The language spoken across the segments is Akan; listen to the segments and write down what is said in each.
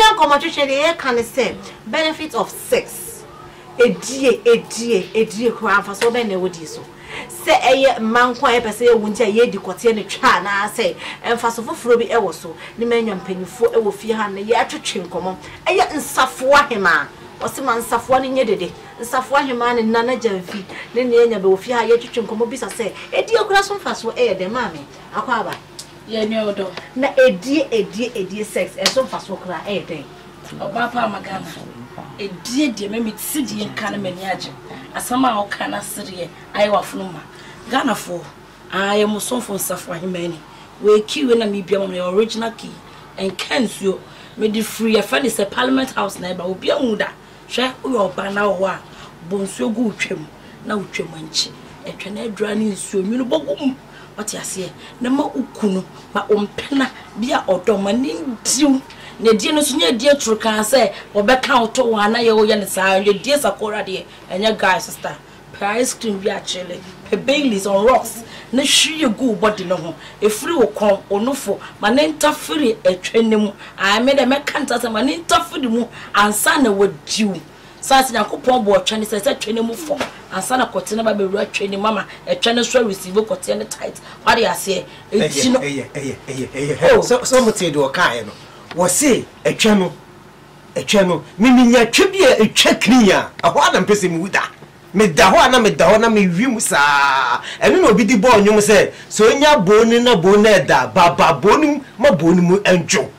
Ɛnnɛ nkɔmɔtwetwe deɛ yɛka ne sɛ benefit of sex, ɛdie, ɛdie, ɛdie koraa mfasoɔ bɛn na ɛwɔ die so? Sɛ ɛyɛ mmaa nko a yɛpɛ sɛ yɛwo nti a yɛdi kɔteɛ no twa anaasɛ mfaso foforɔ bi ɛwɔ so? Ne manya mpaninfoɔ ɛwɔ fie ha nnɛ yɛretwetwe nkɔmɔ. Ɛyɛ nsafoa hemaa, wɔse ma nsafoa no nyɛ dede, nsafoa hemaa ne Nana Gyamfi ne Nea Anya bɛwɔ fie ha yɛretwetwe nkɔmɔ bisa sɛ ɛdie koraa so mfasoɔ ɛyɛ dɛn? Maame Akwaaba. Yɛ nea ɔdɔ. Na ɛdie ɛdie ɛdie sex ɛso mfasoɔ koraa ɛyɛ dɛn. Ɔbaa pa ama Ghana. Ɛdie deɛ me me te deɛ nka no m'ani agye asɛm a wo ka na sereɛ ayɛ wafono ma Ghana foɔ aa yɛ mo somfo nsafo ahemaa ni wei key wei na me bua ma no yɛ original key ɛnka nsuo me de firi yɛ fɛ no sɛ parliament house na ɛba obi anhu da hwɛ wo yɛ ɔbaa na wɔ hɔ a bɔ nsuo gu wo twam na wo twam nkye ɛtwɛn adura ne nsuo nwunu bɔ gu mu. Wate aseɛ? Na ma wo kunu, ma wo mpena bi a ɔdɔ ma ne ndiw. Na edie no nso nyɛ edie turukaa sɛ wɔbɛka wo to wɔn anaa yɛwɔ yɛ no saa. Yɛ edie sakora deɛ ɛnyɛ guy sister. Pɛ ice cream bi akyele, pɛ Baileys on rocks na hwie gu wo body no ho. Efiri wo kɔn, wo nofo, ma ne ntafiri ɛtwɛ ne mu. Ae, me deɛ mɛka ntasɛm, ma ne ntafiri mu ansa na wadiw. Saa nti Nyankopɔn bɔɔ twɛ no sɛ ɛsɛ twɛ no mu fɔm ansa na kɔteɛ no ba bɛwura twɛ no mu ama ɛtwɛ no nso a receive kɔteɛ no tithe. W'ate aseɛ? Nti no. Ɛyɛ, ɛyɛ, ɛyɛ, ɛyɛ, ɛyɛ, hɛ o, sɛ, sɛ motee deɛ ɔkaeɛ no, wɔse ɛtwɛ no, ɛtwɛ no, me menya twɛ bi a ɛtwa clean a, ɛhɔ ara na mepɛ sɛ mewu da. Meda hɔ a na meda hɔ na mewe mu saa. Ɛno na obi de bɔɔ nnwom sɛ, Sɛ ɔnya bone na bone ɛda, ba, ba bone mu ma bone mu ndwo.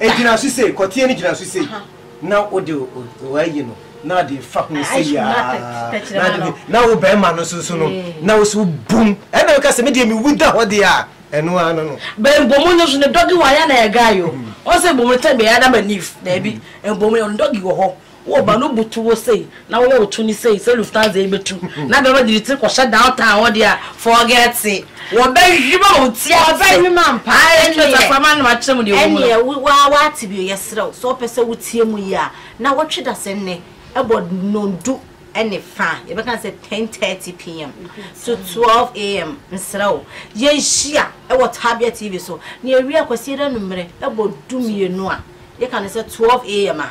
Egyina so sei, kɔteɛ no gyina so sei na wode wayi no na ade fa ho sɛ yaa na wo bɛrima no nso so no na wo so bum ɛna woka sɛ medeɛ mewu da hɔ deɛ a ɛno ara no no bɛnbomu no so ne dɔge wɔ ayɛ na ɛga yo ɔsɛ bomu tɛ bɛyɛ adama nif daabi ɛbomu no dɔge wɔ hɔ Wo ba no butu wo sei na woyɛ wo tuni sei sɛ Lufthansa yi bɛtu na bɛma de ne tiri kɔhyɛ downtown hɔ deɛ a, forget it. Wɔbɛhwim a wo ti ase. Wɔbɛhwim ampa. Ae, ɛnneɛ. Kyerɛ sɛ akoa ma nom akyerɛ mu deɛ ɛwɔ mu no. Ɛnneɛ, wo ara woate bio. Yɛsrɛ wo, sɛ wopɛ sɛ wotie mu yie a, na wɔtwe dasɛm nnɛ bɔ nnɔndu ne fa, yɛbɛka no sɛ ten thirty PM to twelve AM. Mesrɛ wo, yɛnhyia wɔ Tabia TV so na yɛwie a, Kwasiada anwummerɛ bɔ du mmienu a, yɛka no sɛ twelve AM a.